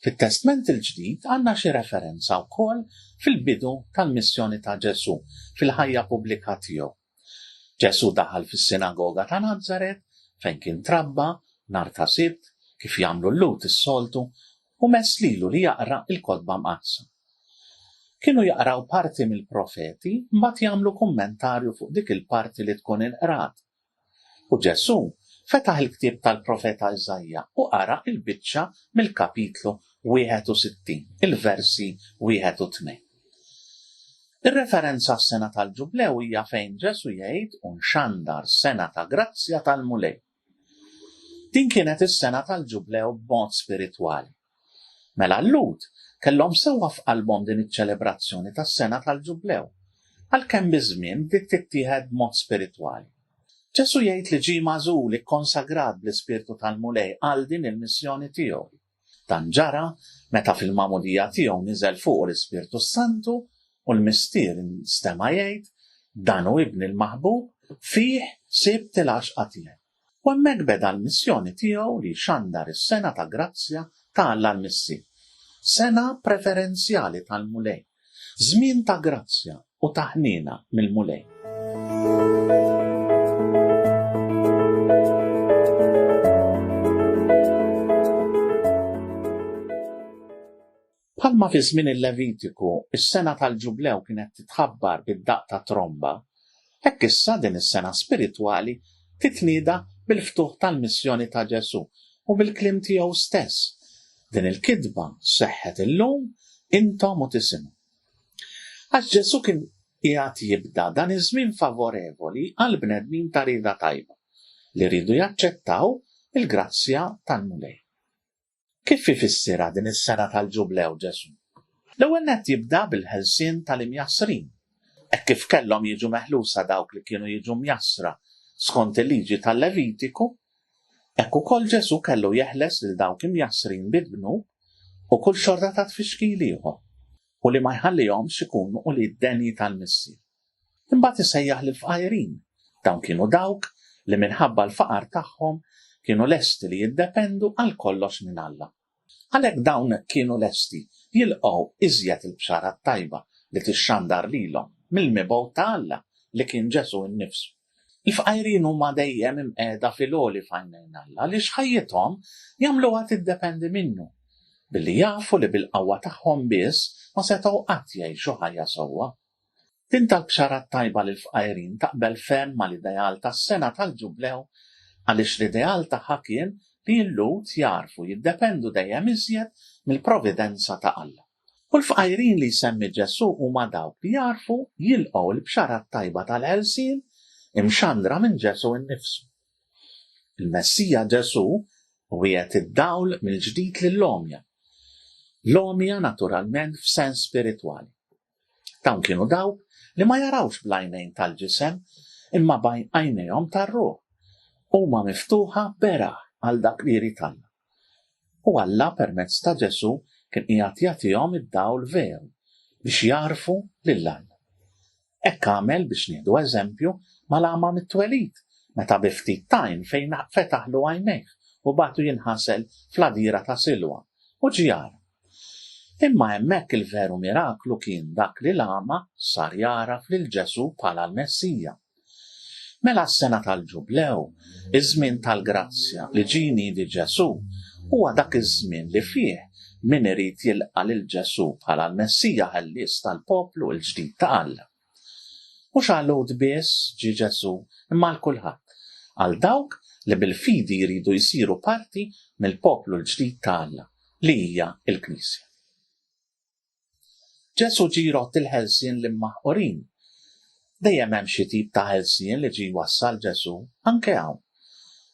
Fit-Testment il-Ġdid għandna xi referenza wkoll fil-bidu tal-missjoni ta' Ġesù, fil-ħajja pubblika tiegħu. Ġesù daħal fis-sinagoga ta' Nazaret, fejn kien trabba, nhar ta' Sibt, kif jagħmlu l-Lhud is-soltu, u mess lilu li jaqra l-Kotba Mqaddsa. Kienu jaqraw parti mill-profeti, mbagħad jagħmlu kummentarju fuq dik il-parti li tkun inqrat, U Ġesù fetaħ il-ktieb tal-profeta Iżaija u qara l-biċċa mill-Kapitlu 61, il-versi wieħed u tnejn. Ir-referenza għas-sena tal-Ġublew hija fejn Ġesù jgħid u nxandar sena ta' grazzja tal-Mulej. Din kienet is-sena tal-Ġublew b'mod spiritwali. Mela l-Lhud kellhom sewwa f'qalbhom din iċ-ċelebrazzjoni tas-sena tal-Ġublew, għalkemm biż-żmien bdiet tittieħed b'mod spiritwali. Ġesù jgħid li ġie magħżul, ikkonsagrat bl-Ispirtu tal-Mulej għal din il-missjoni tiegħu. Dan ġara meta fil-magħmudija tiegħu niżel fuqu l-Ispirtu s-Santu u l-Mistier instema' jgħid, Dan hu Ibni l-maħbub, fih sibt il-għaxqa tiegħi. U hemmhekk beda l-missjoni tiegħu li jxandar is-sengħa ta' grazzja ta' Alla l-Missi. Sengħa preferenzjali tal-Mulej, żmien ta' grazzja u ta' ħniena mill-Mulej. Bħalma fi żmien il-Levitiku s-sena tal-Ġublew kienet titħabbar bid-daqq ta' tromba, hekk issa din is-sena spiritwali titnieda bil-ftuħ tal-missjoni ta' Ġesù u bil-kliem tiegħu stess, Din il-kitba seħħet illum, intom u tisimgħu. Għax Ġesù kien qiegħed jibda dan iż-żmien favorevoli għal bnedmin ta' rieda tajba li riedu jaċċettaw il-grazzja tal-Mulej. Kif ifissirha din is-sena tal-Ġublew Ġesù? L-ewwel nett jibda bil-ħelsien tal-imjassrin. Hekk kif kellhom jiġu meħlusa dawk li kienu jiġu mjassra skont il-liġi tal-Levitiku, hekk ukoll Ġesù kellu jeħles lil dawk imjassrin bi dnub u kull xorta ta' tfixkil ieħor, u li ma jħallihomx ikunu ulied denji tal-Missier. Imbagħad isejjaħ lill-fqajrin. Dawn kienu dawk li minħabba l-faqar tagħhom kienu lesti li jiddependu għal kollox minn Alla. Għalhekk dawn kienu lesti jilqgħu iżjed il-Bxara t-Tajba li tixxandar lilhom mill-mibgħut ta' Alla li kien Ġesù innifsu. Il-fqajrin huma dejjem imqiegħda fil-għoli f'għajnejn Alla għaliex ħajjithom jagħmluha tiddependi minnu, billi jafu li bil-qawwa tagħhom biss ma setgħu qatt jgħixu ħajja sewwa. Din tal-Bxara t-Tajba lill-Fqajrin taqbel ferm mal-ideal tas-Sena tal-Ġublew għaliex l-ideal tagħha kien li l-Lhud jagħrfu jiddependu dejjem iżjed mill-providenza ta' Alla. U l-fqajrin li jsemmi Ġesù huma dawk li jagħrfu jilqgħu l-Bxara t-Tajba tal-ħelsien imxandra minn Ġesù nnifsu. Il-Messija Ġesù wiegħed id-dawl mill-ġdid lill-għomja. L-għomja naturalment f'sens spiritwali. Dawn kienu dawk li ma jarawx bl-għajnejn tal-ġisem imma bajn għajnejhom tar-ruħ. Huma miftuħa beraħ għal dak li jrid Alla. U Alla permezz ta' Ġesù kien qiegħed jagħtihom id-dawl veru biex jagħrfu lil Alla. Hekk għamel biex nieħdu eżempju mal-għama mit-twelid meta bi ftit tajn fejn fetaħlu għajnejh u batu jinħasel fl-għadira ta' Silwa u ġiar Imma hemmhekk il-veru miraklu kien dak li l-agħma sar jagħraf lil Ġesù bħala l-Messija. Mela s-sena tal-Ġublew, iż-żmien tal-grazzja li ġie jniedi Ġesù, huwa dak iż-żmien li fih min irid jilqa' lil Ġesù bħala l-Messija Ħellies tal-poplu l-ġdid ta' Alla. Mhux għal Lhud biss ġie Ġesù, imma għal kulħadd, għal dawk li bil-fidi jridu jsiru parti mill-poplu l-ġdid ta' Alla, li hija l-Knisja. Ġesù ġie jrodd il-ħelsien l-immaħqurin. Dejjem hemm xi tip ta' ħelsien li ġie jwassal Ġesù, anke hawn,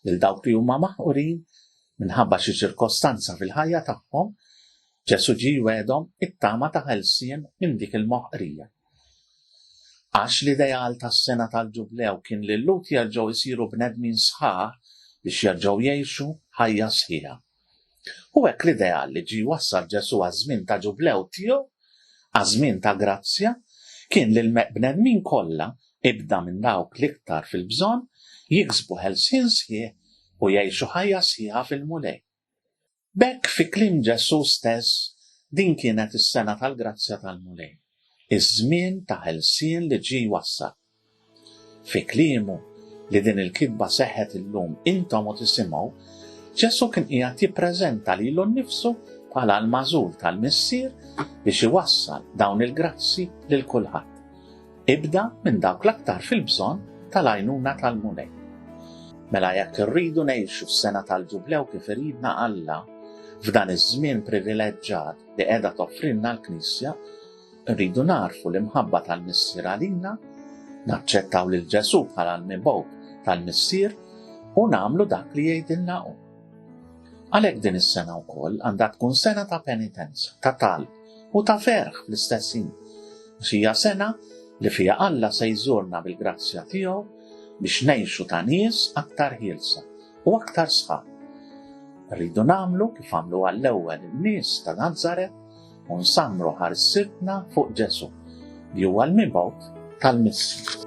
lil dawk li huma maħqurin minħabba xi ċirkostanza fil-ħajja tagħhom, Ġesù ġie jwiegħdhom it-tama ta' ħelsien minn dik il-moħqrija. Għax l-ideal tas-sena tal-Ġublew kien li l-Lhud jerġgħu jsiru bnedmin sħaħ biex jerġgħu jgħixu ħajja sħiħa. Hu hekk l-ideal li ġie jwassal Ġesù għaż-żmien ta' Ġublew tiegħu, għaż-żmien ta' grazzja, kien li l-bnedmin kollha, ibda minn dawk l-iktar fil-bżonn, jiksbu ħelsien sħiħ u jgħixu ħajja sħiħa fil-Mulej. B'hekk fi kliem Ġesù stess din kienet is-sena tal-grazzja tal-Mulej, iż-żmien ta' ħelsien li ġie jwassal. Fi kliemu li din il-kitba seħħet illum intom u tisimgħu, Ġesù kien qiegħed jippreżenta lilu nnifsu bħala l-magħżul tal-Missier biex iwassal dawn il-grazzji lil kulħadd. Ibda minn dawk l-aktar fil-bżonn tal-għajnuna tal-Mulej. Mela jekk irridu ngħixu s-sena tal-Ġublew kif iridna Alla, f'dan iż-żmien privileġġat li qiegħda toffrilna l-Knisja, rridu narfu l-imħabba tal-Missier għalina, naċċettaw lil Ġesù bħala l-mibgħut tal-Missier u nagħmlu dak li jgħidilna hu. Għalhekk din is-sena wkoll għandha tkun sena ta' penitenza, ta' talb, u ta' ferħ fl-istess ħin, għax hija sena li fiha Alla se jżurna bil-grazzja tiegħu biex ngħixu ta' nies aktar ħielsa u aktar sħab. Rridu nagħmlu kif għamlu għall-ewwel in-nies ta' Nazaret u nsammru ħarsibna fuq Ġesu li huwa l-mibgħut tal-missi.